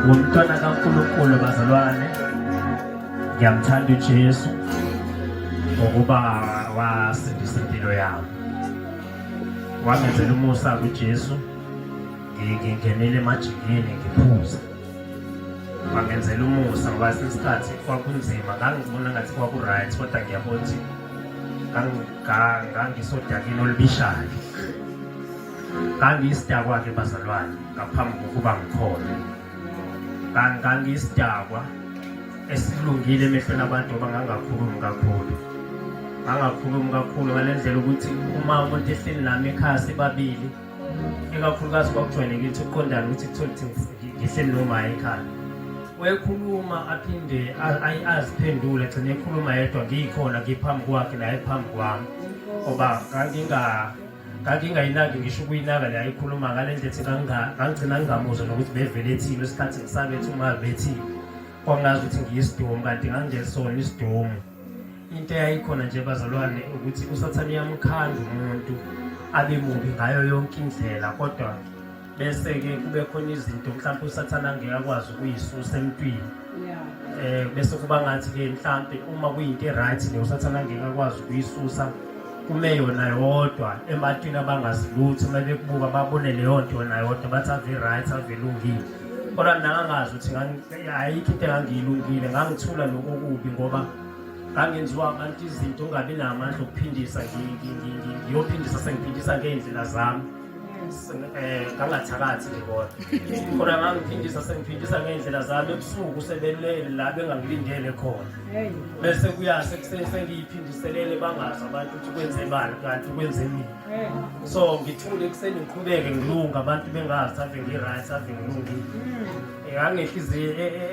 ngumntwana kaNkulunkulu bazalwane ngiyamthanda uJesu ngokuba wasindisa impilo yami wangenzela umusa kuJesu ngingenele emajikini ngiphuza wangenzela umusa ngoba sesikhathi kwakunzima ngangibona ngathi kwaku-right kodwa ngiyabona ukuthi ngangisodakini olubishayo ngangiyisidakwa-ke bazalwane ngaphambi kokuba ngikhona ngangiyisidakwa esilungile emehlweni abantu ngoba ngangakhulumi kakhulu ngangakhulumi kakhulu ngale ndlela ukuthi uma umuntu ehleli nami ekhaya sibabili ikakhulukazi kwakujwayelekile ukuthi uqondane ukuthi kuthole ukuthi ngihleli nomaya ekhaya wekhuluma aphinde aziphendule gcine ekhuluma yedwa ngiyikhona ngiphambi kwakhe naye phambi kwami ngoba nganginga ngangingayinaki ngisho ukuyinaka le ayikhuluma ngale ndlela ethi ngangigcina ngingamuzwa nokuthi bevele ethini isikhathi ngisabethi uma bethini kwangazi ukuthi ngiyisidomu kanti ngangingesona isidomu into eyayikhona nje bazalwane ukuthi usathane uyamkhanda umuntu abe mubi ngayo yonke indlela kodwa bese-ke kube khona izinto mhlawumpe usathane angeke akwazi ukuyisusa emntwini um bese kuba ngathi-ke mhlawumpe uma kuyinto e-right le usathane angeke akwazi ukuyisusa kume yona yodwa ematwini abangazilutho uma bekubuka babone leyo nto yona yodwa bathi ave i-right ave ilungile kodwa nangangazi ukuthi ayikho into engangiyilungile ngangithula lokho kubi ngoba ngangenziwa abantu izinto ungabi namandla okuphindisa ngiyophindisa sengiphindisa ngey'ndlela zami eh kangathakathi ke kodwa khona ngangiphindisa sengiphindisa ngey'ndlela zami ebusuku sebelele la bengangilindele khona bese kuyase sengiyiphindiselele bangazi abantu ukuthi kwenze bani kanti kwenze mina so ngithule ekuseni ngiqhubeke ngilunga abantu bengazi save ngi-right ave ngilungile hmm. ngangehliziyo e, e,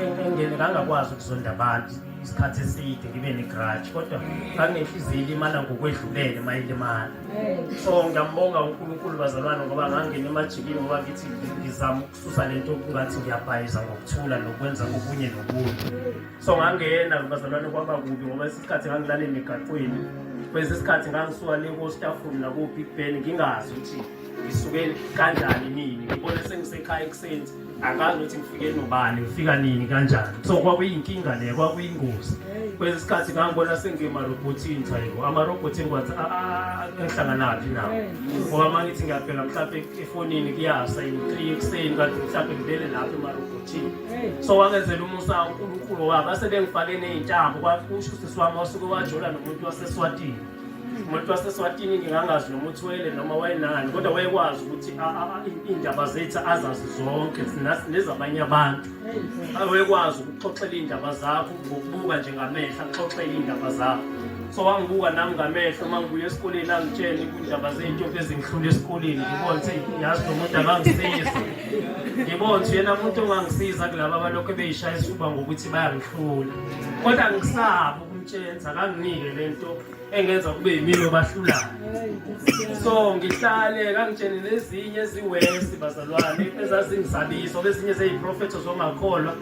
e, engene ngangakwazi ukuzonda abantu isikhathi eside ngibe ne-grudge kodwa nganginenhliziyo ilimala ngokwedlulele mayilimala so ngiyambonga unkulunkulu bazalwane ngoba ngangena emajikini ngoba ngithi ngizama ukususa le nto kungathi ngiyabhayiza ngokuthula nokwenza okunye nokunye so ngangena bazalwane kwaba kubi ngoba isikhathi ngangilala emigaqweni kwesi sikhathi ngangisuka le kostafuni nakubig ben ngingazi ukuthi ngisuke kanjani nini ngibone sengisekhaya ekuseni angazi ukuthi ngifike nobani ngifika nini kanjani so kwakuyinkinga le kwakuyingozi kwesinye isikhathi ngangibona sengimarobhothini sayibo amarobhothi engiwathi ah, ah, engihlanganaphi nawo ngoba uma ngithi ngiyabheka mhlawumpe efonini kuyasa three ekuseni kanti mhlawumpe ngibele lapho emarobhothini so wangenzela umusa unkulunkulu wabo asebengifake ney'ntambo kwakusho usisi wami wasuke wajola nomuntu waseswatini umuntu waseswatini ngingangazi noma uthwele noma wayenani kodwa wayekwazi ukuthi iy'ndaba zethu azazi zonke nezabanye abantu wayekwazi ukuxoxela iy'ndaba zakho ngokubuka nje ngamehlo axoxele iy'ndaba zakho so wangibuka nami ngamehlo uma ngibuya esikoleni angitshele kuyindaba zey'ntombi ezingihlula esikoleni ngibone ukuthi yazi lo muntu akangisizi ngibone ukuthi yena muntu ongangisiza kulaba abalokhu beyishaya isifuba ngokuthi bayangihlula kodwa ngisabo umtshenza kanginike lento engenza kube yimini obahlulayo so ngihlale kangitshene nezinye eziwesi bazalwane ezazingisabisa bezinye zeyiprofetho zongakholwa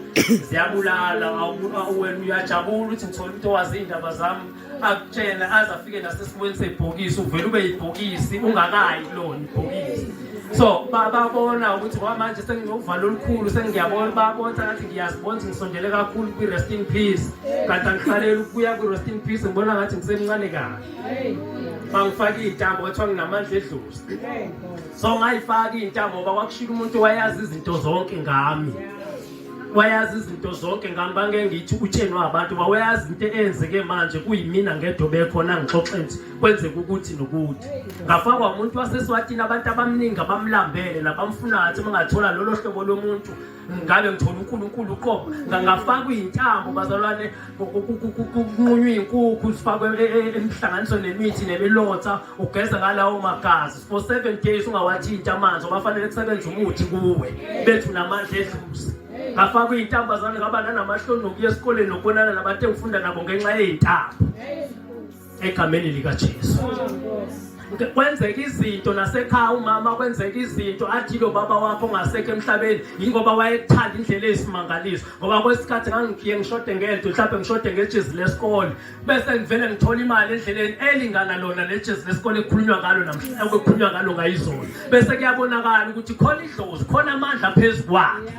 ziyabulala wena uyajabula ukuthi ngithole umuntu owazi iy'ndaba zami akutshena aze afike nasesikweni sebhokisi uvele ube yibhokisi ungakayi kulona ibhokisi so babona ukuthi kwamanje senginovalo olukhulu sengiyabona babona ngathi ngiyazibona ukuthi ngisondele kakhulu kwi-rest in peace kanti angihlaleli ukubuya kwi-rest in peace ngibona ngathi ngisemncane kahle bangifake iy'ntambo kwathiwa nginamandla edlozi so ngayifaka iy'ntambo ngoba kwakushika umuntu wayazi izinto zonke ngami wayazi izinto zonke ngami bangengithi utsheni wabantu bawayazi into eyenzeke manje kuyimina ngedobe khona ngixoxe nje kwenzeka ukuthi nokuthi ngafakwa umuntu waseswatini abantu abaningi abamlambele nabamfunayo athi mangathola lolo hlobo lomuntu ngabe ngithola unkulunkulu uqobo ngangafakwa iy'ntambo bazalwane kunqunywa iy'nkukhu zifakwe e, e, e, emhlanganiso nemithi nemilotha ugeza ngalawo magazi for seven days ungawathinti amanzi obafanele kusebenza umuthi kuwe bethu namandla edluzi ngafakwa iy'ntambo zane ngaba nanamahloni nokuya esikoleni nokubonana nabantu engifunda nabo ngenxa yey'ntambo egameni likaJesu kwenzeka izinto nasekhaya umama kwenzeka izinto athi lo baba wakho ongasekho emhlabeni yingoba wayethanda indlela eyisimangaliso ngoba kwesikhathi ngangigiye ngishode ngento mhlawumbe ngishode ngejezi lesikole bese ngivele ngithola imali endleleni elingana lona lejezi lesikole ekukhulunywa ngalo namhlanje okukhulunywa ngalo ngayizona bese kuyabonakala ukuthi khona idlozi khona amandla phezu kwakhe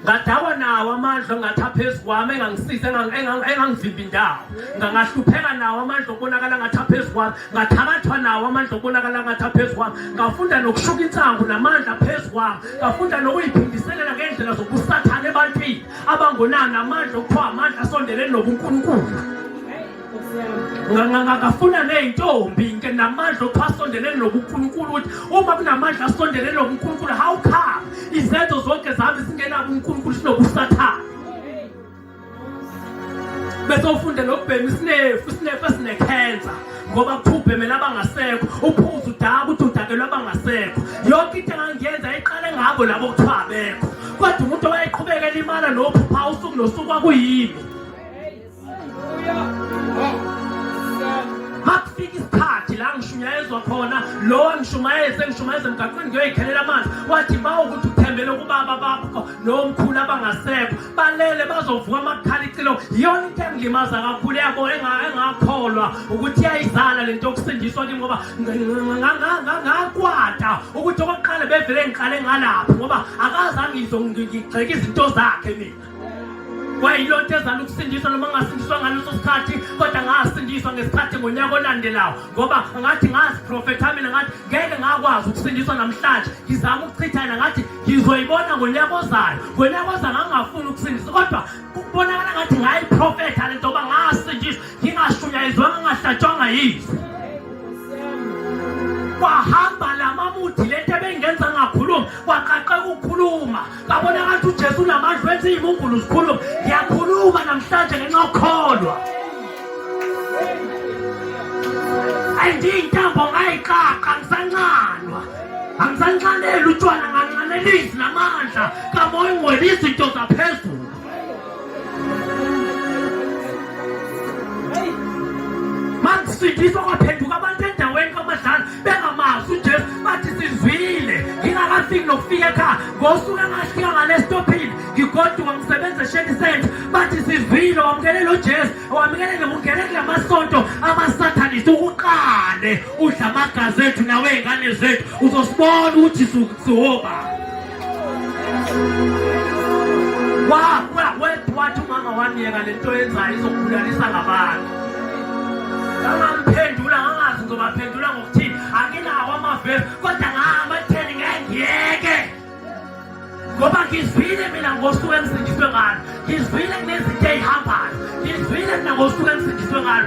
ngadakwa nawo amandla ongathi aphezu kwami engangisiza engangivimbi indawo ngangahlupheka nawo amandla okubonakala ngathi aphezu kwami ngathakathwa nawo amandla okubonakala ngathi aphezu kwami ngafunda nokushuka insangu namandla aphezu kwami ngafunda nokuyiphindiselela ngendlela zokusathana ebantwini abangonani amandla okuthiwa amandla asondeleni nobunkulunkulu ngangafuna ney'ntombi nke namandla ophasondelene nokunkulunkulu ukuthi uma kunamandla asondelene nokunkulunkulu how come izenzo zonke zami zingenabo unkulunkulu sinobusathane bese ufunde nokubhema isinefu isinefu esinekhensa ngoba kuphubhemela abangasekho uphuza udaka ukuthi udakelwe abangasekho yonke into engangiyenza iqale ngabo labo kuthiwa abekho kodwa umuntu owayeqhubeka elimana nophupha usuku nosuku kwakuyimi makufika isikhathi la ngishunyayezwa khona lo angishumayeze ngishumayeze emgaqweni ngiyoyikhelela amanzi wathi ba ukuthi uthembele kubaba bakho nomkhulu abangasekho balele bazovuka amakhala icilo yiyona into engilimaza kakhulu yabo engakholwa ukuthi iyayizala le nto yokusindiswa kimi ngoba ngakwata ukuthi okokuqala bevele ngiqale ngalapho ngoba akazange ngizongigxeka izinto zakhe mina kwayiloo nto ezala ukusindiswa noma ngasindiswa ngaleso sikhathi kodwa ngasindiswa ngesikhathi ngonyaka olandelayo ngoba ngathi ngaziprofetha mina ngathi ngeke ngakwazi ukusindiswa namhlanje ngizama ukuchitha yena ngathi ngizoyibona ngonyaka ozayo ngonyaka ozayo ngangingafuni ukusindiswa kodwa kubonakala ngathi ngayiprofetha le nto yoba ngasindiswa ngingashunyayizwanga ngingahlatshwanga yizwe kwahamba la mamuthi le nto ebengenza ngakhuluma kwaqaqeka ukukhuluma Babonakala ukuthi uJesu unamandla wenza izimungulu zikhuluma. Ngiyakhuluma namhlanje ngenxa yokukholwa. Andiyintambo ngayiqaqa ngisancanwa. Angisancaneli utshwala ngancanelisi namandla kamoya ungwelisa into zaphezulu. Makusindiswa kwaphenduka abantu endaweni kamadlala bengamazi uJesu bathi sizwile ngingakafiki nokufika ekhaya ngosuku engafika ngalesitophini ngigoduka ngisebenza esheni senza bathi sizwile wamukelele uJesu wamukelele ungene kula masonto amasathanisi ukuqale udla amagazi ethu nawe ingane zethu uzosibona ukuthi siwoba wathi umama wamyeka le nto yenzayo izokubulalisa ngabantu angamphendula angazi ngizobaphendula ngokuthini anginawo amavesi kodwa ngahamba kutheni ngengiyeke ngoba ngizwile mina ngosuku engisindiswe ngalo ngizwile kunezinto eyihambayo ngizwile mina ngosuku engisindiswe ngalo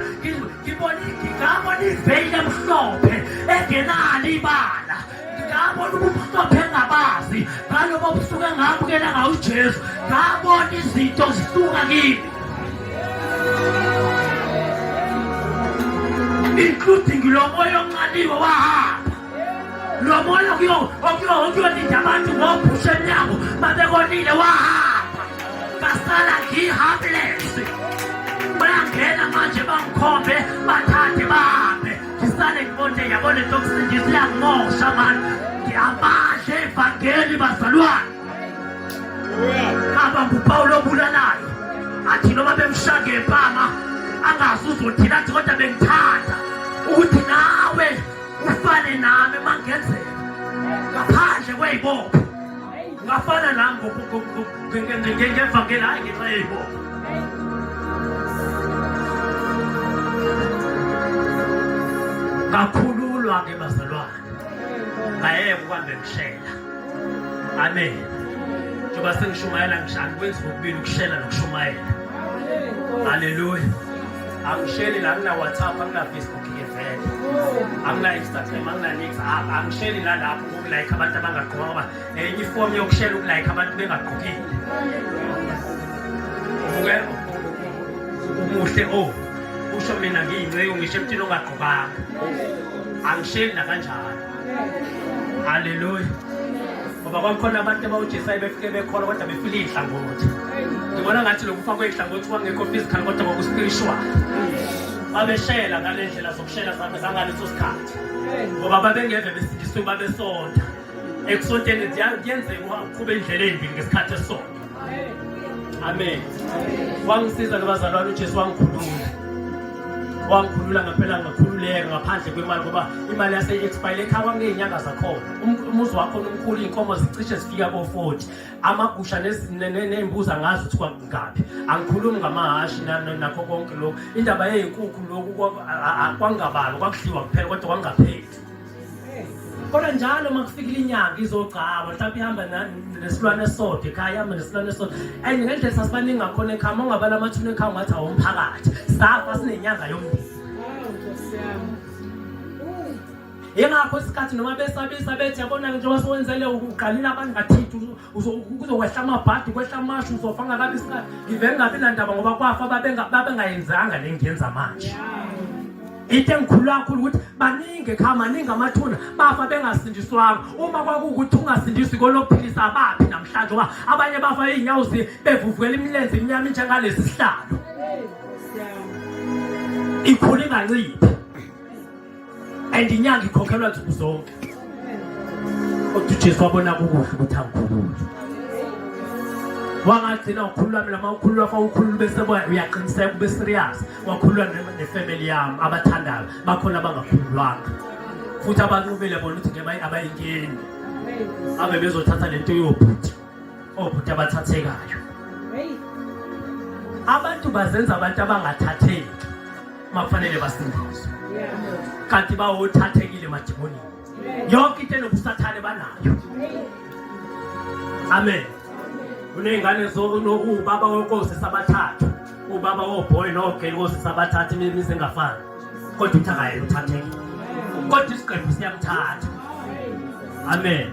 ngibona ngabona iveyile emhlophe engenalo ibala ngabona ubumhlophe engabazi ngalobo busuke ngabukela ngawo ujesu ngabona izinto zisuka kimi including lo moya onqaliwe wahamba lo moya okuyolinda abantu ngobhusha emnyango babekonile wahamba ngasala ngihamlesi bayangena manje bangikhombe bathathe bahambe Ngisale ngibonje yabona into yokusindisa iyangimosha mani. Ngiyabadla evangeli bazalwane. Baba nguPawulu obulalayo. Athi noma bemshaya ngempama angazi uzothina athi kodwa bengithanda ukuthi nawe ufane nami mangenzeka ngaphandle kwey'bopho ngafana nam ngevangeli hayi ngenxa yeyibona ngakhululwa ke bazalwane ngayeke ukuhamba emshela amen njengoba sengishumayela ngishani kwenza kokubili ukushela nokushumayela haleluya angisheli la angina-whatsapp angina-facebook ke vele angina-instagram anginanix angisheli nalapho ukulayikha abantu abangagqoka ngoba nenye ifomu yokushela ukulayikha abantu bengagqokile umuhle o oh, usho mina ngiyinceku ngisho emthini ongagqokanga angisheli nakanjalo haleluya ngoba kwakukhona abantu abawujesayo befike bekhona kodwa befile iy'hlangothi ngibona ngathi lokufa kwey'hlangothi kwangekho physical kodwa kwakuspiritual babeshela ngale ndlela Shela zami zangaleso sikhathi. Ngoba babengeve besindiswe babesonta. Ekusonteni kuyenzeka uqhube indlela endini ngesikhathi esonta. Amen. Wangisiza nabazalwane uJesu wangikhulula. wangikhulula ngempela ngakhululeka ngaphandle kwemali ngoba imali yase-expile ekhaya kwakuney'nyanga zakhona umuzi wakho nomkhulu iy'nkomo zicishe zifika ko-forty amagusha ney'mbuzi angazi ukuthi kwakungaphi angikhulumi ngamahhashi nakho konke lokhu indaba yeyinkukhu lokhu kwangabalwa kwakudliwa kuphela kodwa kwangapheli kodwa njalo uma kufikile inyanga izogcaba mhlawumbe ihamba nesilwane esodwa ekhaya ihamba nesilwane esodwa and ngendlela sasibaningi ngakhona ekhaya uma ungabala amathuna ekhaya ungathi awomphakathi safa sinenyanga yomndeni yingakho isikhathi noma besabisa bethi yabona-ke njengoba sowenzele uqalile abantu ngathithi kuzokwehla amabhadi kwehla amashu uzofa ngakabi isikhathi ngivele ngabi nandaba ngoba kwafa babengayenzanga le ngiyenza manje into engikhulu kakhulu ukuthi baningi ekhaya maningi amathuna bafa bengasindiswanga uma kwakuwukuthi ungasindiswi kolokuphilisa abaphi namhlanje ngoba abanye bafa iy'nyawo bevuvukela imilenze imnyama injengalesi sihlalo ikhula inganciphi and inyanga ikhokhelwa nsuku zonke kodwa ujesu wabona kukuhle ukuthi angikhulule wangagcina ukhulula mina ma ukhulula fa ukhulula bese uyaqiniseka ube serious wakhulula nefamily yami abathandayo bakhona abangakhululwanga futhi abanqubile bona ukuthi ngeke abayingeni abe bezothatha lento yobhuti obhuti abathathekayo abantu bazenza abantu abangathatheki makufanele basindiswe kanti bawothathekile madimonini yonke into enobusathane banayo amen kuney'ngane ubaba wenkosi sabathathu ubaba wobhoyi nogeli kosi sabathathu imizi engafani kodwa uthi akaye uthatheke kodwa isiqephu siyamthatha amen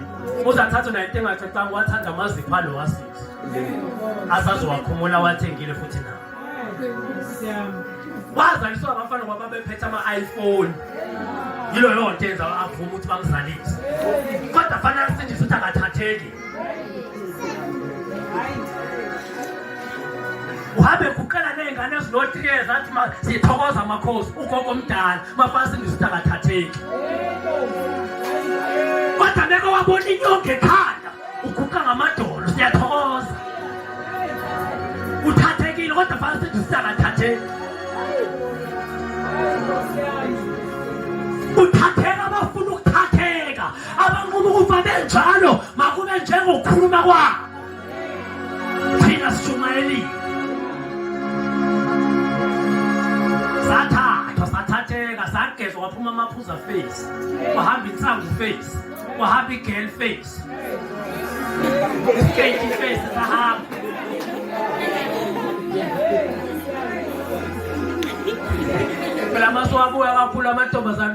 uzathatha naye into engathethanga wathanda amazipho alo wasisi asazowakhumula wathengile futhi na wazaliswa abafana ngoba bephethe ama-iphone yilo yonto yenza avume ukuthi bamzalise kodwa fanele asindise ukuthi angathatheki wabe kuqala ney'ngane ezinothile zathi sithokoza amakhosi ugogo omdala mafana singisithakathatheki kodwa beke wabona inyonga ekhanda uguqa ngamadolo siyathokoza uthathekile kodwa fana sithi sithakathatheki uthatheka abanquma ukuba benjalo makube njengokukhuluma kwabo thina sishumayelile sathathwa sathatheka sagezwa kwaphuma amaphuza face kwahamba insangu face kwahamba igirl face isketi face sahamba phela masuwabuya kakhulu amantombazane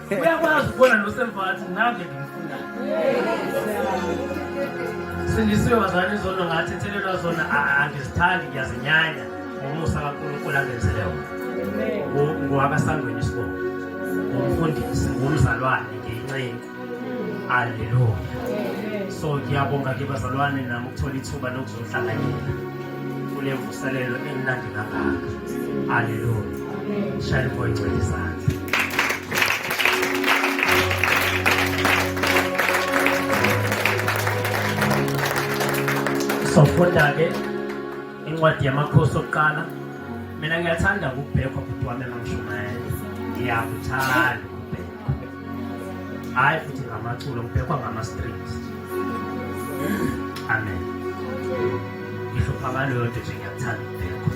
uyakwazi ukubona nosemva athi nave ngimfuna sindisiwe bazali izono ngathi ethelelwa zona angizithandi ngiyazinyanya ngomusa kankulunkulu angenzele wona ngowakasangweni isibongo ngumfundisi ngumzalwane ngiyincengu aleluya so ngiyabonga ke bazalwane nami ukuthola ithuba lokuzohlanganyela kunemvuselelo emnandi kangaka aleluya shayela umoya ongcwele izandla sofunda-ke incwadi yamakhosi okuqala mina ngiyathanda ukubhekwa bhuti wami engangishumayela ngiyakuthanda hayi futhi ngamaculo ngibhekwa ngama-strings amen ngisho phakaleyo nto nje ngiyakuthanda ukubhekwa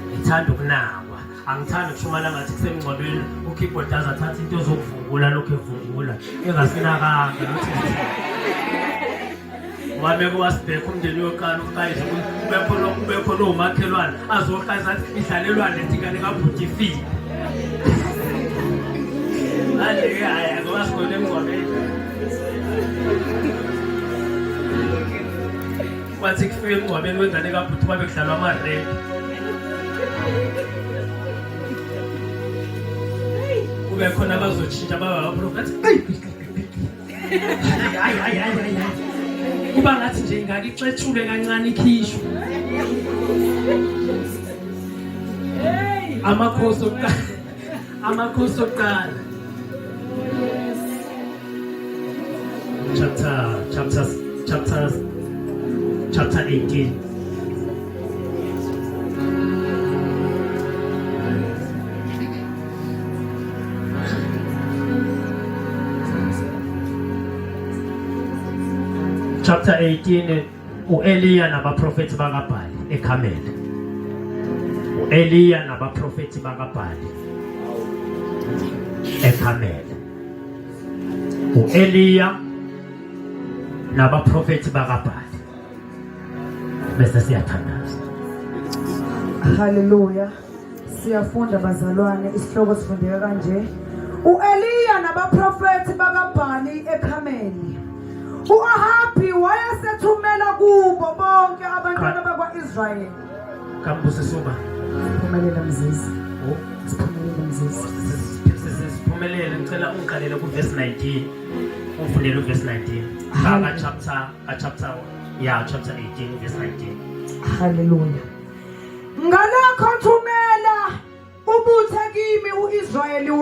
ngithanda ukunakwa angithandi ukushumayela ngathi kusemngcwabeni ukeyboard aze athathe into ezokuvungula lokhu evungula engasinakanga ukuthi wabeke wasibhekha umndeni yoqala uqayize ubekhona umakhelwane azoqayiza athi idlalelwane ethi kane kabhuti ifile manje-ke hhayi ngoba sigone emngcwabeni kwathi kufika emngcwabeni wengane kabhuti babe kudlalwa amaredi kube khona abazotshintsha baba baphulofethi hayi hayi hayi kuba ngathi nje ingake ixetshule kancane ikhishwe amakhosi okuqala amakhosi okuqala chapter chapter chapter chapter 18 Thank you. chapter 18 uEliya nabaprofeti bakaBhali eKhameli uEliya nabaprofeti bakaBhali eKhameli uEliya nabaprofeti bakaBhali bese siyathandaza haleluya Siyafunda bazalwane, isihloko sifundeka kanje. U-Eliya nabaprofethi bakaBhali eKhameli. U-Ahabi wayesethumela kubo bonke abantwana bakwa-Israyeli. Kambuse suma. Phumelela mzizi. Oh. Siphumelele mzizi. Siphumelele ngicela ungiqalele kuverse 19. Ufundele uverse 19. Baba chapter, chapter yeah, chapter 18 verse 19. Hallelujah. Ngalokho thumela ubuthe kimi u-Israyeli wonke.